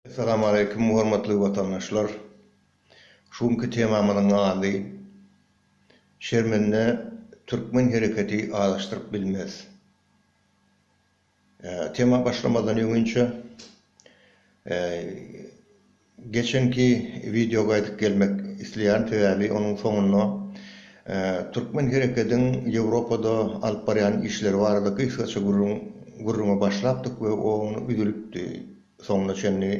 Salam aleýkum hormatly watandaşlar. Şu günki temamyzyň ady, Şermende türkmen hereketi azaşdyryp bilmez. Tema başlamazdan öňinçä geçenki wideo gaýdyp gelmek isleýärin sebäbi onuň soňunda türkmen herekediň Ýewropada alyp barýan işleri barada gysgaça gürrüňe başlapdyk we ony üzülipdi. Soňuna çenli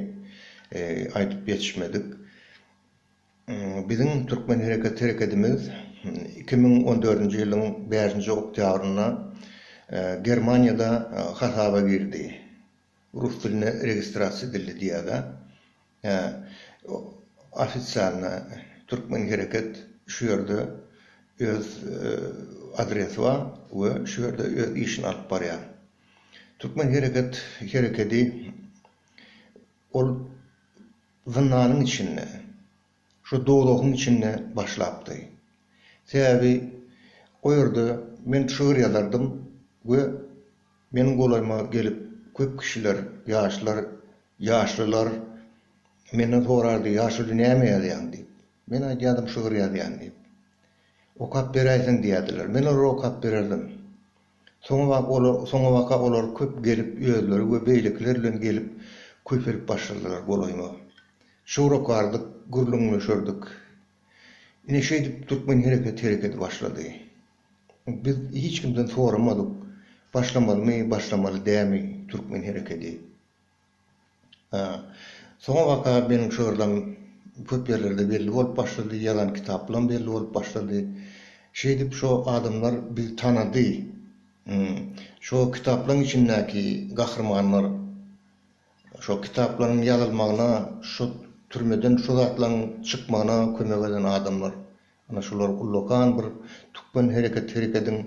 aýdyp ýetişmedik. Biziň Türkmen hereket herekedimiz iki müň on dördünji ýylyň bäşinji oktýabrynda Germaniýada hasaba girdi. Rus dilinde registrasiýa edildi diýýäda. Hä, ofisialna Türkmen hereket şu ýerde öz adresi bar we şu ýerde öz işini alyp barýar. Türkmen hereket herekedi ol zyndanyň içinde, şu dozahyň içinde başlapdy. Sebäbi o ýerde men şygyr ýazardym we meniň golaýyma gelip köp kişiler, ýaşlar, ýaşlylar menden sorardy, Ýaşuly näme ýazýaň diýip. Men aýdýardym şygyr ýazýan diýip. Okap beräýseň diýerdiler. Men olara okap bererdim. Soňabaka olar köp gelip özleri we beýlekiler bilen gelip köpelip başladylar golaýma. Şowrakardyk, gürrüňleşerdik. Ine şeýdip türkmen hereketi hereketi başlady. Biz hiç kimden soramadyk, başlamalymy, başlamaly dämi türkmen hereketi. Hä. Soňabaka meniň şu ýerlem köp ýerlerde belli bolup başlady, ýazan kitaplaram belli bolup başlady. Şeýdip şo adamlar bizi tanady. Hum. Şo kitaplaryň içindäki gahrymanlar şo kitaplaryň ýazylmagyna, şo türmeden şo zatlaryň çykmagyna kömek eden adamlar. Ana şular ullakan bir tükgen hereket herekediň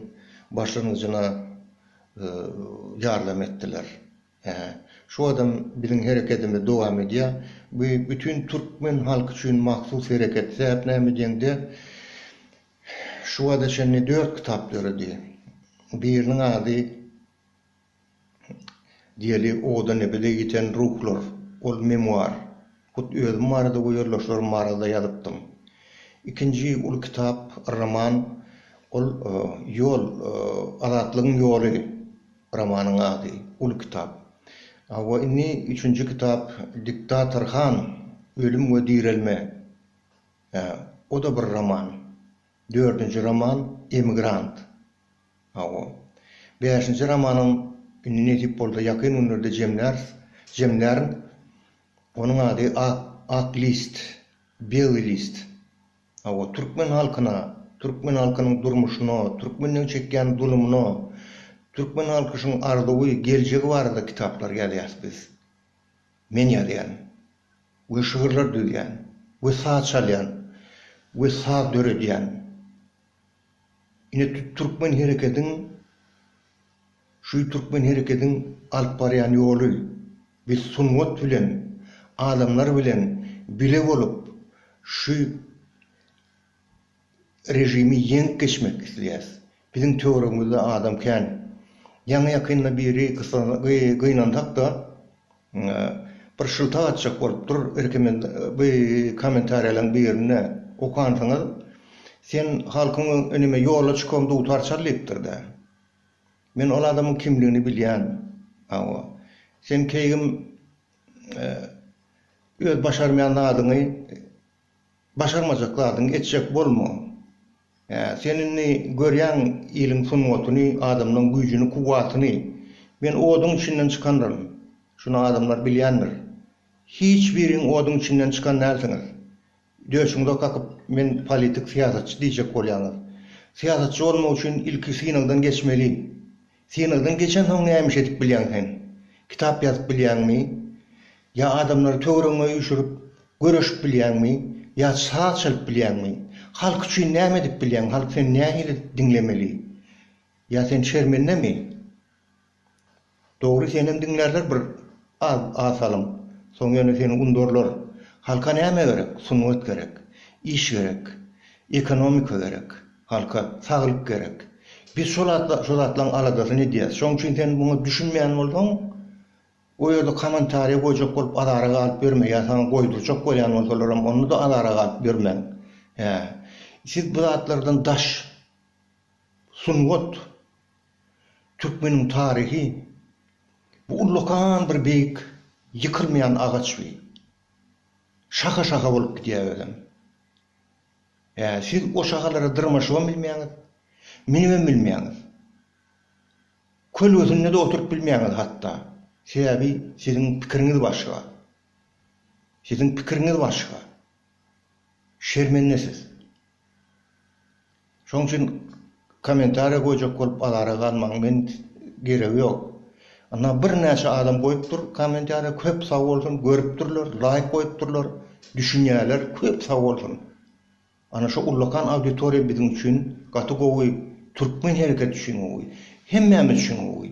başlangyjyna ýardam etdiler. Hä, şu adam biziň herekedimizi dowam edýä. Bu bütin türkmen halky üçin mahsus hereket. Sähet näme diýeňde, şu wada çenli dört kitap döredi. Biriniň ady diýeli Oda-nebede ýeten ruhlar. Ol memuar. Hut özüm barada we ýoldaşlarym barada-da ýazypdym. Ikinji uly kitap, roman, ol Ýol, azatlygyň ýoly romanyň ady, uly kitap. Hawa, indi üçünji kitap Diktator han, ölüm we direlme, hä, o-da bir roman. Dördünji roman Emigrant. Hawa. Bäşinji romanam indi nesip bolsa ýakyn günlerde jemläris, jemlärin. Onuň ady Ak, Ak list, Bely list. Hawa, türkmen halkyna, türkmen halkynyň durmuşyna, türkmenleň çekýän zulumyna, türkmen halkyşyň arzuwy, geljegi barada kitaplar ýazýas biz. Men ýazýan we şygyrlar düzýän we saz çalýan we saz döredýän. Ine, türkmen herekediň. Şu türkmen herekediň alyp barýan ýoly, biz sungat bilen, adamlar bilen bile bolup şu režimi ýeňip geçmek isleýäs. Biziň töweregimizde adam kän. Ýaňy-ýakynda biri gynansak-da, bir şyltak atjak bolupdyr, kommentariýalaryň birinde okansyňyz, Sen halkyň öňünde ýola çyk, dutar çal diýipdir-dä. Men ol adamyň kimligini bilýän. Hawa. Sen keýgim öz başarmaýan zadyňy başarmajak zadyňy etjek bolma. Hä, sen indi görýäň iliň sungatyny, adamlaň güýjüni, kuwwatyny. Men oduň içinden çykanryn. Şuny adamlar bilýändir. Hiç biriň oduň içinden çykan dälsiňiz. Döşüňize kakyp, men politik syýasatçy diýjek bolýaňyz. Syýasatçy bolmak üçin ilki synagdan geçmeli. Synagdan geçensoň näme iş edip bilýäň sen? Kitap ýazyp bilýäňmi? Ýa adamlary töweregiňe üýşürip, göreşip bilýäňmi? Ýa saz çalyp bilýäňmi? Halk üçin näme edip bilýäň? Halk seni nähili diňlemeli? Ýa sen şermendemi? Dogry senem diňlärler bir az az salym soň ýöne seni undurlar halka näme gerek sungat gerek iş gerek ekonomika gerek halka saglyk gerek biz şol atla şo zatlaň aladasyny edýäs şoň üçin sen muňa düşünmeýän bolsaň o ýerde kamantarýa goýjak bolup azara galyp ýörme ýa saňa goýdurjak bolýan bolsalaram onda da azara galyp ýörmäň hä siz bu zatlardan daş sungat Türkmeniň taryhy bu ullakan bir beýik ýykylmaýan agaç bi. Şaha-şaha bolup gidýär özem. Ä, siz o şahalara dyrmaşybam bilmeýäňiz, münübem bilmeýäňiz. Kölgesinde-de oturyp bilmeýäňiz hatda. Sebäbi siziň pikiriňiz başga. Siziň pikiriňiz başga. Şermendesiz. Şoň üçin kommentariýa goýjak bolup azara galmaň men geregi ýok. Ynha birnäçe adam goýup dur kommentariýa köp sag bolsun görüpdirler laýk goýupdyrlar düşünýäler köp sag bolsun. Ana şu ullakan auditoriýa biziň üçin gaty gowy türkmen hereketi üçin gowy hemmämiz üçin gowy.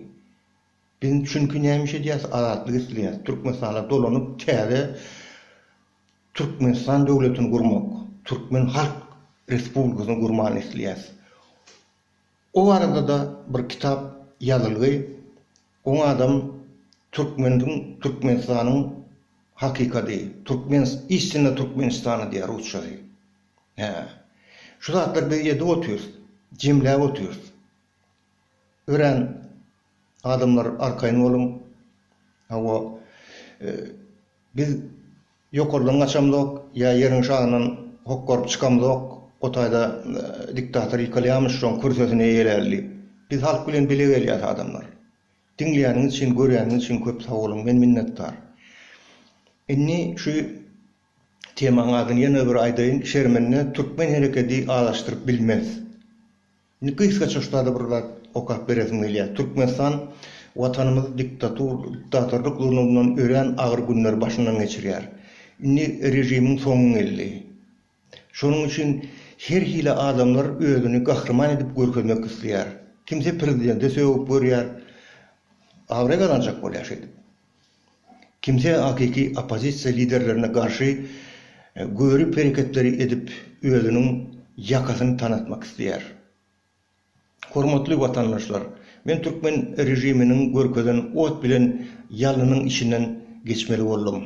Biz çünki näme iş edýäs azatlyk isleýäs türkmenistana dolanyp täze Türkmenistan döwletini gurmak, Türkmen Halk Respublikasyny gurmany isleýäs. O barada-da bir kitap ýazylgy. Oň adam Türkmeniň, Türkmenistanyň hakykady, Türkmen, istinna Türkmenistana diýýär rusçasy. Hä. Şu zatlar biz edip otyrys, jemläp otyrys. Örän adamlar arkaýyn boluň. Hawa. Biz ýokardan gaçamzok, ýa ýeriň şagyndan hokgaryp çykamzok, o taýda diktator ýykylýarmyş, şoň kürsesini eýeläli diýip. Biz halk bilen bile gelýäs adamlar. Diňleýäniňiz üçin, görýäniňiz üçin köp sag boluň, men minnetdar. Indi şu temaň adyny ýene bir aýdaýyn, Şermende türkmen herekedi azaşdyryp bilmez. Indi gysgaça şutada bir zat okap beresim gelýär. Türkmenistan Watanymyz diktatur, diktatorlyk zulumyndan örän agyr günleri başyndan geçirýär. Indi režimiň soňy geldi. Şonuň üçin her hili adamlar özüni gahryman edip görkezmek isleýär. Kimse prezidente sögüp görýär. Abraý gazanjak bolýar şeýdip. Kimse hakyky oppozisiýa liderlerine garşy görip hereketleri edip özüniň ýakasyny tanatmak isleýär. Hormatly watandaşlar, men türkmen režiminiň görkezen ot bilen ýalnynyň içinden geçmeli boldum.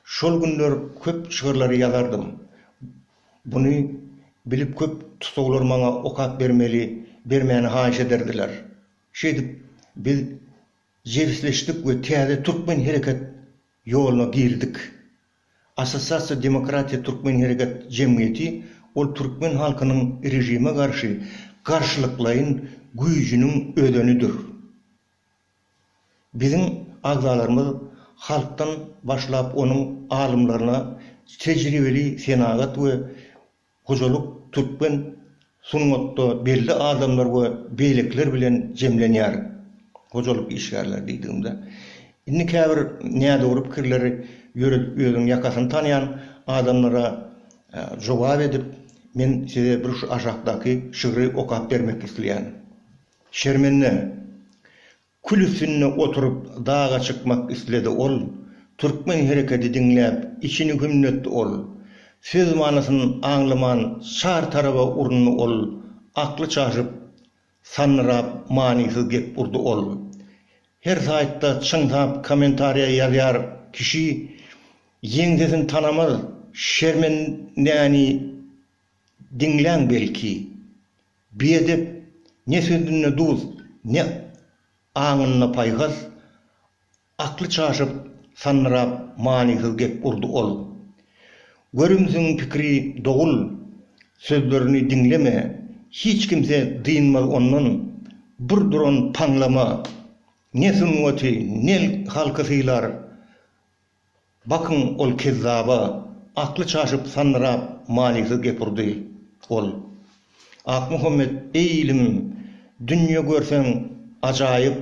Şol günler köp şygyrlary ýazardym. Buny bilip köp tussaglar maňa okap bermeli, bermäni haýyş ederdiler. Şeýdip biz Jebisleşdik we täze türkmen hereket ýoluna girdik. Assosiasiýa Demokratiýa Türkmen Hereket Jemgyýeti ol türkmen halkynyň režime garşy garşylyklaýyn güýjüniň özenidir. Biziň agzalarymyz halkdan başlap onuň alymlaryna, tejribeli senagat we Hojalyk türkmen sungatda belli adamlar we beýlekiler bilen jemlenýär. Hojalyk işgärleri diýdigimde, indi käbir nädogry pikirleri ýöredip özüniň ýakasyny tanýan adamlara jogap edip, men size bir şu aşakdaky şygry okap bermek isleýän. Şermende! Kül üstünde oturyp daga çykmak isledi ol, Türkmen herekedi diňläp içini hümletdi ol, Söz manysyn aňlaman çar taraba urundy ol, Akly çaşyp, sandyrap manysyz gep urdy ol. Her saýtda çyňsap kommentariýa ýazýar kişi, Ýeňsesini tanamaz şermendäni diňläň belki. Biedep, ne sözünde duz, ne aňynda paýhas, akly çaşyp, sandyrap, manysyz gep urdy ol. Görümsiň pikiri dogul, sözlerini diňleme, hiç kimse dynmaz ondan, bir duran paňlama, ne sungaty, ne halky sylar, Bakyň ol kezzaba, akly çaşyp sandyrap manysyz gep urdy. Ol. Akmuhammet eý ilimim, dünýe görseň ajaýyp.